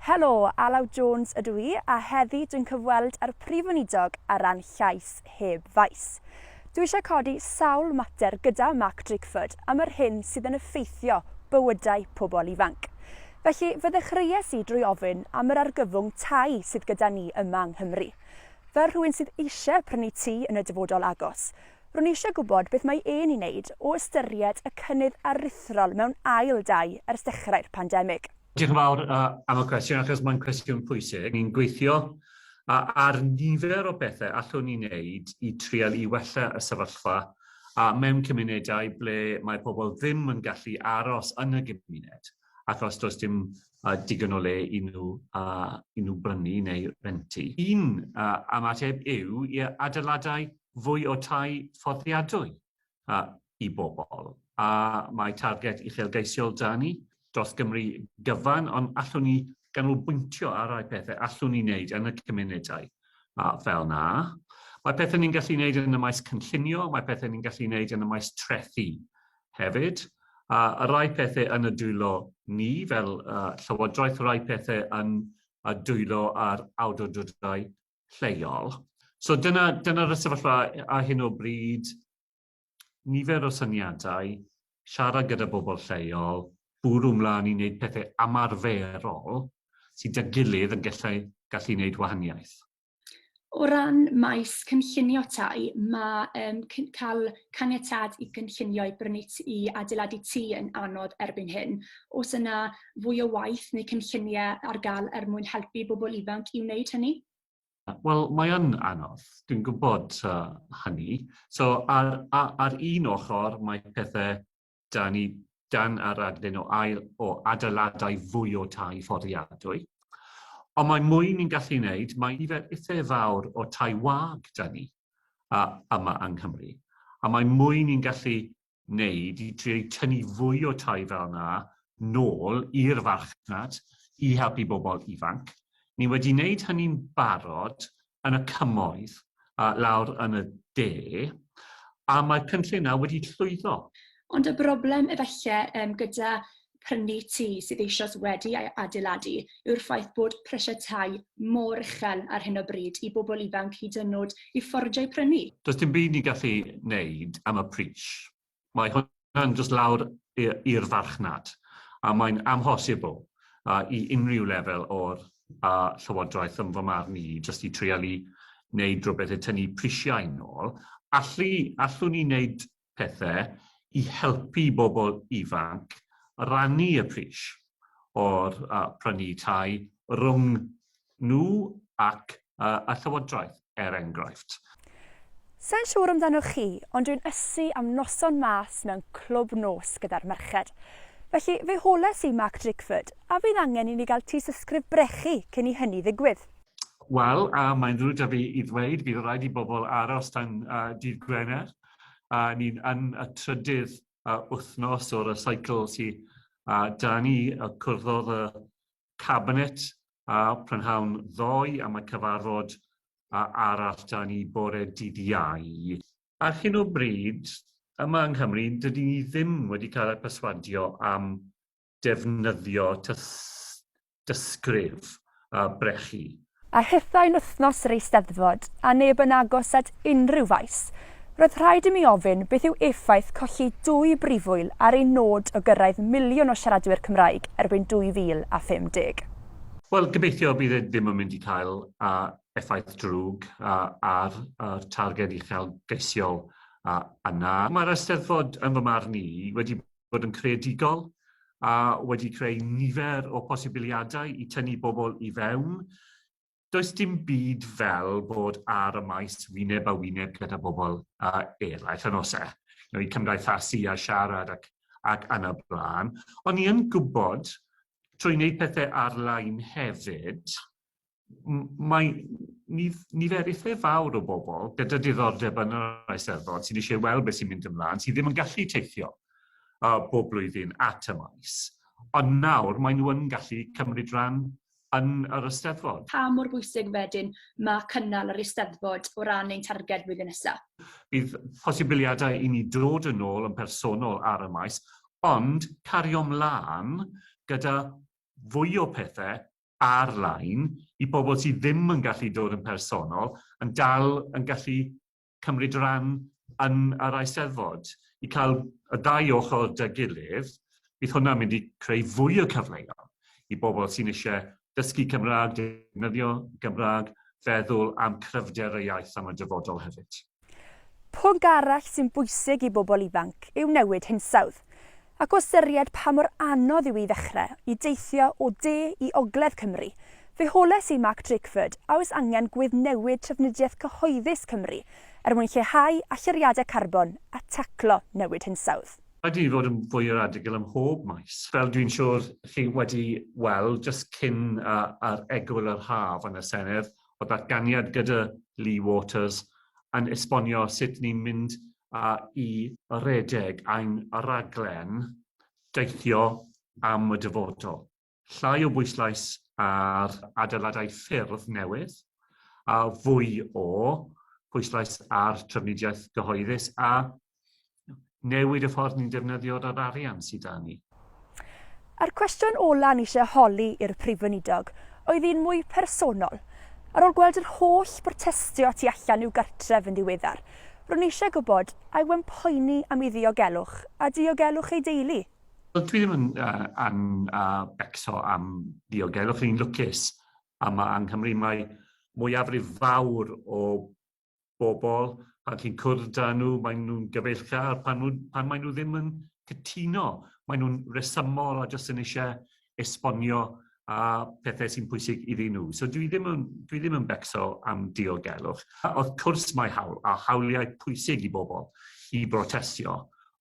Helo, Alaw Jones ydw i, a heddi dwi'n cyfweld â'r Prif Weinidog ar ran Llais Heb Faes. Dwi eisiau codi sawl mater gyda Mark Drakeford am yr hyn sydd yn effeithio bywydau pobl ifanc. Felly, fy ddechreuais i drwy ofyn am yr argyfwng tai sydd gyda ni yma yng Nghymru. Fel rhywun sydd eisiau prynu tŷ yn y dyfodol agos, Ro'n i eisiau gwybod beth mae e'n ei wneud o ystyried y cynnydd aruthrol mewn ail dai ers dechrau'r pandemig. Diolch yn fawr am y cwestiwn, achos mae'n cwestiwn pwysig. Ni'n gweithio ar nifer o bethau allwn ni wneud i trial i wella y sefyllfa mewn cymunedau ble mae pobl ddim yn gallu aros yn y gymuned achos does dim digon o le i nhw, i nhw brynu neu rentu. Un ymateb yw i adeiladau fwy o tai fforddiadwy i bobl, a mae targed uchelgeisiol 'da ni dros Gymru gyfan, ond allwn ni ganolbwyntio ar rai pethau allwn ni wneud yn y cymunedau fel 'na. Mae pethau ni'n gallu wneud yn y maes cynllunio, mae pethau ni'n gallu wneud yn y maes trethi hefyd, a rai pethau yn y dwylo ni fel Llywodraeth, rai pethau yn y dwylo a'r awdurdodau lleol. So dyna, dyna y sefyllfa a hyn o bryd, nifer o syniadau, siarad gyda bobl lleol, bwrw mlaen i wneud pethau amarferol sydd â gilydd yn gallu, gallu wneud wahaniaeth. O ran maes cynllunio tai, mae um, cael caniatad i gynllunio i brynu i adeiladu tŷ yn anodd erbyn hyn. Os yna fwy o waith neu cynlluniau ar gael er mwyn helpu bobl ifanc i wneud hynny? Wel, mae yn anodd, dwi'n gwybod uh, hynny. So, ar, ar, ar un ochr, mae pethau da ni dan yr adlun o, ail, o adeiladau fwy o tai fforddiadwy. Ond mae mwy ni'n gallu wneud, mae nifer eithaf fawr o tai wag da ni a, yma yng Nghymru. A mae mwy ni'n gallu wneud i drio i tynnu fwy o tai fel yna nôl i'r farchnad i helpu bobl ifanc. Ni wedi wneud hynny'n barod yn y cymoedd uh, lawr yn y de, a mae'r cynllun yna wedi llwyddo. Ond y broblem efallai um, gyda prynu tŷ sydd eisoes wedi ei adeiladu yw'r ffaith bod prisiau tai mor uchel ar hyn o bryd i bobl ifanc hyd yn nod i ffordio i prynu. Does dim byd ni'n gallu wneud am y pris. Mae hwnna'n jyst lawr i'r farchnad, a mae'n amhosibl i unrhyw lefel o'r Llywodraeth, yn fy marn i, jyst i treialu wneud rhywbeth i tynnu prisiau nôl. Allu, allwn ni wneud pethau i helpu bobl ifanc rannu y pris o'r uh, prynu tai rhwng nhw ac uh, y Llywodraeth, er enghraifft. Sa'n siŵr amdano chi, ond dwi'n ysu am noson mas mewn clwb nos gyda'r merched. Felly fe holes i Mark Drakeford, a fydd angen i ni gael tŷ sysgrif brechu cyn i hynny ddigwydd. Wel, uh, mae'n rwydd da fi i ddweud, bydd rhaid i bobl aros tan uh, dydd Gwener. A ni'n yn y trydydd uh, wythnos o'r y cycle sy a uh, da ni y cwrddodd y cabinet a uh, prynhawn ddoe am y cyfarfod a uh, arall da ni bore dydd iau. Ar hyn o bryd, yma yng Nghymru, dydyn ni ddim wedi cael ei perswadio am defnyddio tystysgrif a brechu. A hithau'n wythnos yr Eisteddfod, a neb yn agos at unrhyw faes, roedd rhaid i mi ofyn beth yw effaith colli dwy brifwyl ar ein nod o gyrraedd miliwn o siaradwyr Cymraeg erbyn 2050? Wel, gobeithio bydd e ddim yn mynd i cael effaith drwg ar y targed uchelgeisiol yna. Mae'r Eisteddfod, yn fy marn i, wedi fod yn creadigol a wedi creu nifer o posibiliadau i tynnu bobl i fewn. Does dim byd fel bod ar y maes wyneb a wyneb gyda bobl a eraill yn ose, you know, i cymdeithasu a siarad ac, ac anna blaen. Ond ni yn gwybod, trwy wneud pethau ar-lein hefyd, mae nif, niferithe fawr o bobl gyda diddordeb yn yr Eisteddfod sy'n eisiau weld beth sy'n mynd ymlaen, sydd ddim yn gallu teithio uh, bob blwyddyn at y maes. Ond nawr maen nhw yn gallu cymryd rhan yn yr Eisteddfod. Pa mor bwysig wedyn mae cynnal yr Eisteddfod o ran ein targed flwyddyn nesaf? Bydd posibiliadau i ni dod yn ôl yn personol ar y maes, ond cario mlaen gyda fwy o pethau ar-lein i bobl sydd ddim yn gallu dod yn personol yn dal yn gallu cymryd rhan yn yr Eisteddfod. I cael y ddau ochr 'da gilydd, bydd hwnna'n mynd i creu fwy o cyfleon i bobl sy'n eisiau dysgu Cymraeg, defnyddio Gymraeg, feddwl am cryfder y iaith am y dyfodol hefyd. Pwnc arall sy'n bwysig i bobl ifanc yw newid hinsawdd, ac o ystyried pa mor anodd yw i ddechrau i deithio o de i ogledd Cymru, fe holes i Mark Drakeford a oes angen gweddnewid trafnidiaeth cyhoeddus Cymru er mwyn lleihau allyriadau carbon a taclo newid hinsawdd. Rhaid i ni fod yn fwy radigl ym mhob maes. Fel dwi'n siŵr chi wedi weld jyst cyn ar egwyl yr haf yn y Senedd, o ddatganiad gyda Lee Waters yn esbonio sut ni'n mynd i redeg ein rhaglen deithio am y dyfodol. Llai o bwyslais ar adeiladau ffyrdd newydd, a fwy o bwyslais ar drafnidiaeth gyhoeddus a newid y ffordd ni'n defnyddio yr arian sydd 'da ni. A'r cwestiwn ola o'n i eisiau holi i'r Prif Weinidog oedd un mwy personol. Ar ôl gweld yr holl brotestio tu allan i'w gartref yn ddiweddar, ro'n i eisiau gwybod a yw e'n poeni am ei ddiogelwch a diogelwch ei deulu. Wel, dwi ddim yn uh, an, uh, becso am ddiogelwch, ni'n lwcus yma yng Nghymru. Mae mwyafrif fawr o bobl pan chi'n cwrdd da nhw, maen nhw'n gyfeillgar, pan, nhw, pan maen nhw ddim yn cytuno, maen nhw'n resymol a jyst yn eisiau esbonio a pethau sy'n pwysig iddyn nhw. So dwi ddim yn, dwi ddim yn becso am diogelwch. A wrth cwrs mae hawl, a hawliau pwysig i bobl i brotestio,